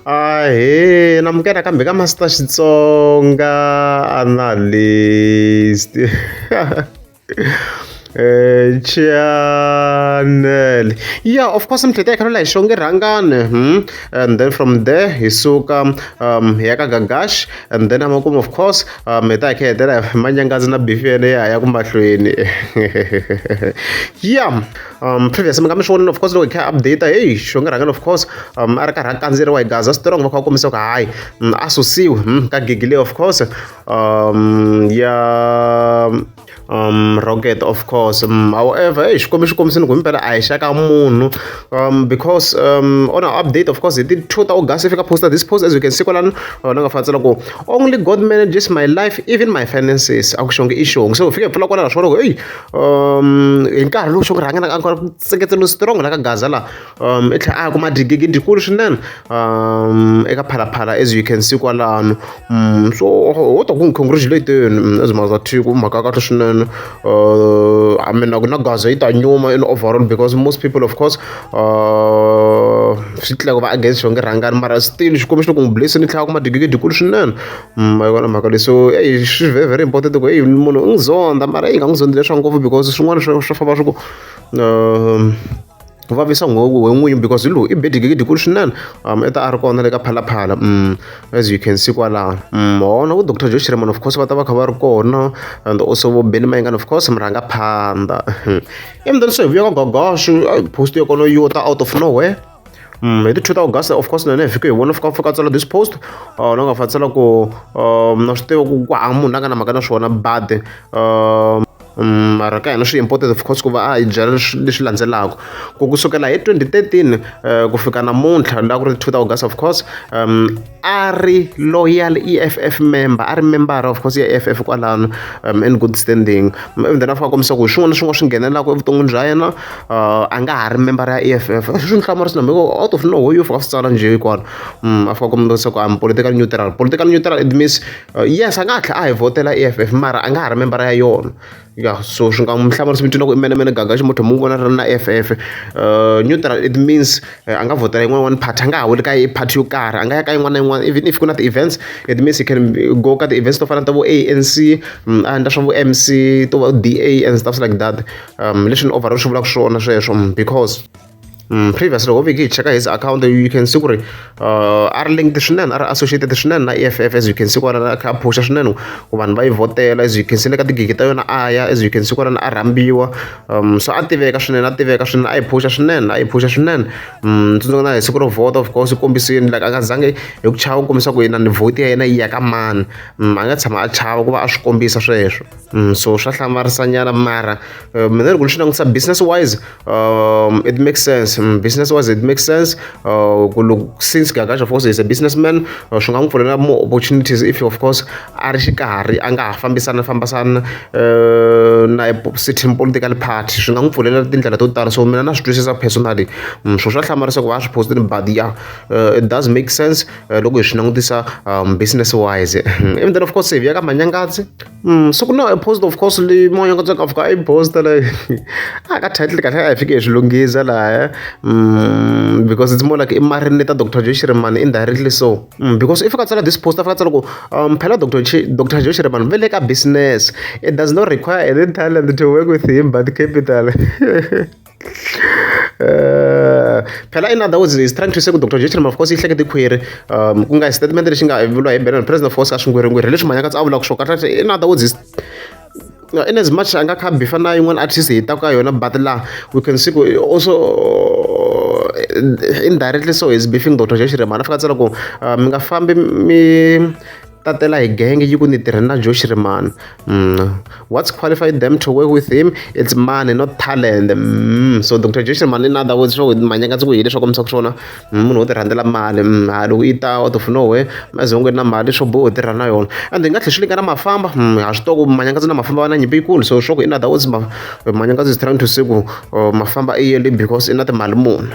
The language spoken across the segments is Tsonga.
Ahee na amukela kambe ka Master Xitsonga Analyst eh channel yeah of course mhlete hi khalela hi xonge rhangane hmm? and then from there hi suka um hi ya ka gagash and then amakumu of course um hi ta hi kha hetela hi manyangazi na bifi yene ya ya ku mahlweni yeah um previous mi nga mi swi vonile of course loko hi kha update hey xongerhangela of course um a ri karhi a kandzeriwa hi gaza strong va kha va kombisa ku hayi mm, a susiwe mm, ka gigi leyi of course um ya um rocket of course um, however hey xikombi xi kombisini ku himpela a hi xaka munhu um because um on our update of course hi ti two ta august fika posta this post as you can see kwalano ni nga fantsela ku only god manages my life even my finances a ku xonge i xonge so hi fike hi pfula kwalano swi vona ku hey um hi nkarhi lowu xo ku rhanga na ka nseketelo strong la ka gaza la um i tlhela a kuma digigi dikulu swinene um eka phalaphala as you can see kwalano um so wo ta ku congratulate yena as maza thiku mhaka kahle swinene uh, i mean na gaza yi ta nyuma in overall because most people of course uh, swi tlhela ku va against xo nge rhangani mara still xikombiso loko n'wi blessini tlhela kuma digigi dikulu swinene ma yi vona mhaka leyi so eyi swi very very important ku eyi munhu u n'wi zonda mara eyi nga n'wi zondzi leswaku ngopfu because swin'wana swa swa famba swi ku um ku vavisa nghozi we n'winyi because hi lowu i bedigegidi kulu swinene um i ta a ri kona le ka phalaphala um as you can see kwalano um hona vo doctor joe shiremon of course va ta va kha va ri kona and also vo beni mayingani of course mi rhanga phanda emdani so hi vuya ka gogosho post yo kono yo ta out of nowhere Mm, hi ti 2 ta august of course na hina hi fike hi vona fika fika tsala this post uh, na nga fa tsala ku um, na swi tiva ku ku hava munhu a nga na mhaka na swona bade um, Mm, mara ka hina swi important of course ku va a hi byela leswi landzelaka ku kusukela hi 2013 eh, ku fika namuntlha la ku ri 2 august of course um a ri loyal EFF member a ri membara of course ya EFF kwalano um in good standing even then a fika kombisa ku hi swin'wana na swin'wana swi nghenelaka evuton'wini bya yena uh, a nga ha ri membara ya EFF swi ni hlamurisa na mhiko out of no ho yo fika swi tsala njhe hikwano um a fika kombisa ku am political neutral political neutral it means uh, yes a nga ha tlhela a hi vhotela EFF mara a nga ha ri membara ya yona ya so swi nga mu hlamarisa mi twina ku i mene mene gaga ximotho mu vona ri na f f uh, neutral it means uh, a nga vhotela yin'wana yin'wana party a nga ha weli ka party yo karhi a nga ya ka yin'wana na yin'wana even if ku na ti-events it means he can go ka ti-events to fana ta vo a n c mm, a endla swa vo m c to va d a and stuffs like that um leswi ni overall swi vulaka swona sweswo mm, because Mm, previously ho veke hi cheka his account you can see ku ri uh, a ri linked swinene a ri associated swinene na e f f as you can see kwalana a kha a phusha swinene ku vanhu va yi vhotela as you can see le ka tigigi ta yona a ya as you can see kwalana a rhambiwa um so a tiveka swinene a tiveka swinene a yi phusha swinene a yi phusha swinene um tsundzuka na hi siku ro vhota of course kombisini like a nga zange hi ku chava ku kombisa ku yena ni vhoti ya yena yi ya ka mani um a nga tshama a chava ku va a swi kombisa sweswo Mm, so swa hlamarisa nyana mara uh, mina loko ni swi langutisa business wise um, it makes sense mm, business wise it makes sense uh, since gagash of course is a businessman uh, swi nga n'wi pfulela more opportunities if of course a ri xikarhi a nga ha fambisana fambisana uh, na certain political party swi nga n'wi pfulela tindlela to tala so mina na swi twisisa personally mm, swo swa hlamarisa ku va swi postile but yeah uh, it does make sense uh, loko hi swi langutisa um, business wise even then of course save ya ka manyangatsi Mm, so ku na post of course leyi moya ka tsaka fika i post la a ka title kahle a hi fike hi swi lunghisa laha mm, because it's more like i marini ta dr joe shirimani indirectly so mm, because if ka tsala this post afika tsala ku um, phela dr dr joe shirimani ve le ka business it does not require any talent to work with him but capital phela in other words is trying to say ku dr jason of course yi hlekete khwiri um ku nga hi statement lexi nga vuriwa hi benon president of course ka swingwerhingweri hi leswi mhanyaka tsa a vulaka swo kahle in other words is in as much a nga kha bifa na yin'wana artist hi ta ka yona but la we can see ku also indirectly so is beefing dr jason mhana fika tsela ku mi nga fambi mi tatela hi genge yi ku ni tirhe na josh rimani mm. what's qualified them to work with him it's money not talent mm. so dr josh rimani in other words swo manyaka ndzi ku hi leswaku misa ku swona mm, munhu wo tirhandzela mali mm, ha loko yi ta wa tofunowe mazongweni na mali swo boho tirha na yona and hi nga tlhe swi lingana mafamba mm, ha swi toko manyaka ndzi na mafamba va na nyimpi yikulu so swo ku in other words manyaka ndzi is trying to say ku oh, mafamba i yele because i na timali muni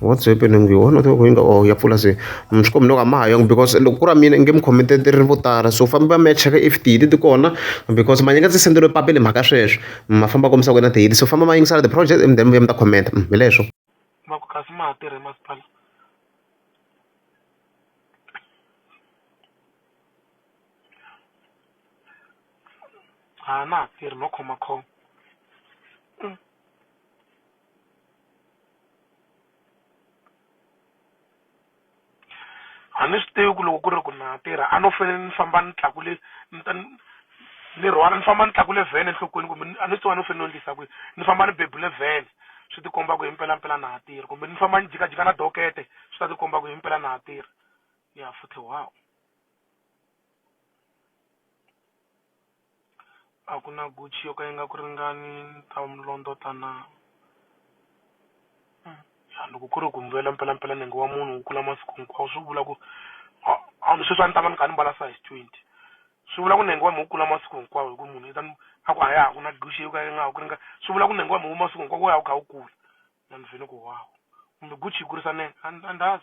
what's happening you wanna talk inga oh ya pfula se mi swi kombela ka ma ha yongi because loko ku ra mina nge mi comment ri vo tala so famba mi ya cheka if tihili ti kona because manye nga ndzi senderiwe papila hi mhaka sweswo ma famba kombisa ku na tihili so famba ma yingisela the project and then mi vuya mi ta comment mm, hi leswo ma ku kasi ma ha tirhe masipala ha na ha tirhi no khomakhoma a ni swi tivi ku loko ku ri ku na tirha a no fane ni famba ni tlakule ni ta ni ni rhwala ni famba ni tlakule vhene enhlokweni kumbe ni a ni swi tiva a ni fane ni endlisa ku yini ni famba ni bebule vhene swi ti komba ku hi mpelampela na ha tirha kumbe ni famba ni jikajika na dokete swi ta ti komba ku himpela na ha tirha ya futhi . A ku na guchi yo ka yi nga ku ringani ni ta londota na? loko ku ri ku mbuyelo mpelampela nenge wa munhu wu kula masiku hinkwawo swi vula ku a ni sweswi a ni ta va ni kha ni mbala size twenty swi vula ku nenge wa me wu kula masiku hinkwawo hi ku munhu i ta ni a ku a ya ha ku na guchi yo ka yi nga ha ku ringani swi vula ku nenge wa me wu masiku hinkwawo wu ya wu kha wu kula na ni fini ku wow kumbe guchi yi kurisa nenge a ni a ni .